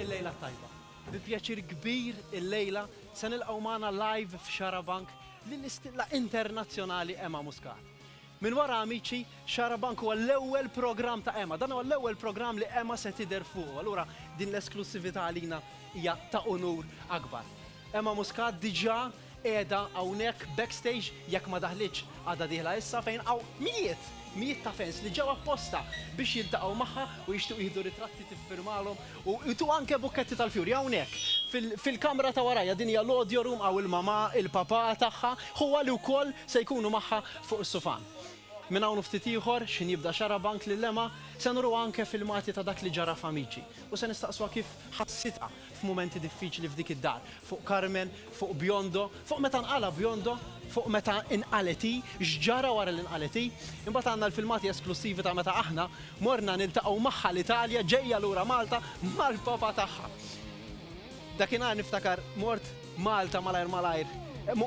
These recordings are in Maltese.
il-lejla tajba. Bi pjaċir kbir il-lejla se nilqgħu magħna live f'Xarabank lill-istilla internazzjonali Emma Muscat. Minn wara Amici, Xarabank huwa l-ewwel programm ta' Ema. Dan huwa l-ewwel programm li Ema se tidher fuqu, allura din l-esklussività għalina hija ta' unur akbar. Ema Muscat diġà qiegħda hawnhekk backstage, jekk ma daħlitx għada dieħla issa, fejn hawn mijiet, mijiet ta' fans li ġew apposta biex jiltaqgħu magħha u jixtiequ jieħdu ritratti tiffirmalhom U tu anke bukketti tal-fjuri hawnhekk, fil-kamra ta' warajja, din hija l-audio room, hawn il-mamà, il-papà tagħha, ħuha li wkoll se jkunu magħha fuq is-sufan. Minn hawn u ftit ieħor, x'ħin jibda Xarabank lil Emma, se nuruha anke filmati ta' dak li ġara f'Amici u se nistaqsuha kif ħassitha f'mumenti diffiċli f'dik id-dar, fuq Carmen, fuq Biondo, fuq meta nqala' Biondo, fuq meta nqalgħet hi, x'ġara wara li nqalgħet hi. Imbagħad għandna l-filmati esklussivi ta' meta aħna Morna niltaqgħu magħha l-Italja ġejja lura Malta mal-Papa tagħha. Dakinhar niftakar mort Malta malajr malajr,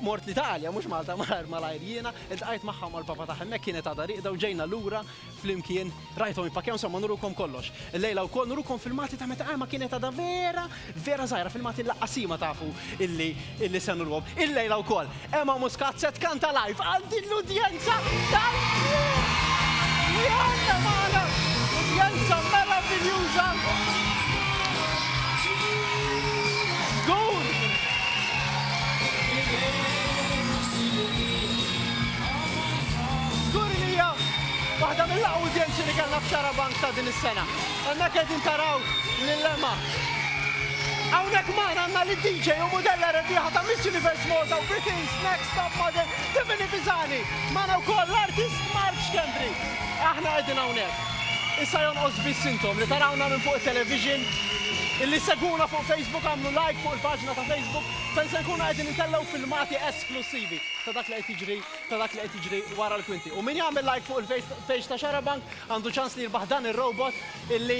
mort l-Italja mhux Malta malajr malajr jiena, iltqajt magħha u mal-Papa tagħha hemmhekk kienet għadha rieqda u ġejna lura flimkien, rajthom jippakkjaw insomma nurukom kollox. Illejla wkoll nurukom filmati ta' meta Alma kienet għadha vera Vera Żgħira, filmati l-laqqasima tafu illi illi se nurwhom illejla wkoll. Emma Muscat se tkanta live għal din l-udjenza tal-ftuħ! Li għandna magħna udjenza meraviljuża! Żgur! Żgur li hija waħda mill-aqwa udjenzi li kellna f'Xarabank ta' din is-sena. Hemmhekk qegħdin taraw lil Emma. Hawnhekk magħna għandna li DJ u mudella rebbieħa ta' Miss Universe Malta u Britain's Next Top Model Tiffany Pisani. Magħna wkoll l-artist Mark Schembri. Aħna qegħdin hawnhekk. Issa jonqos biss intom li tarawna minn fuq it-television, illi segwuna fuq Facebook għamlu like fuq il-paġna ta' Facebook fejn se nkunu qegħdin intellgħu filmati esklussivi ta' dak li qed jiġri ta' dak li qed jiġri wara l-kwinti. U min jagħmel like fuq il-page ta' Xarabank għandu ċans li jirbaħ dan ir-robot illi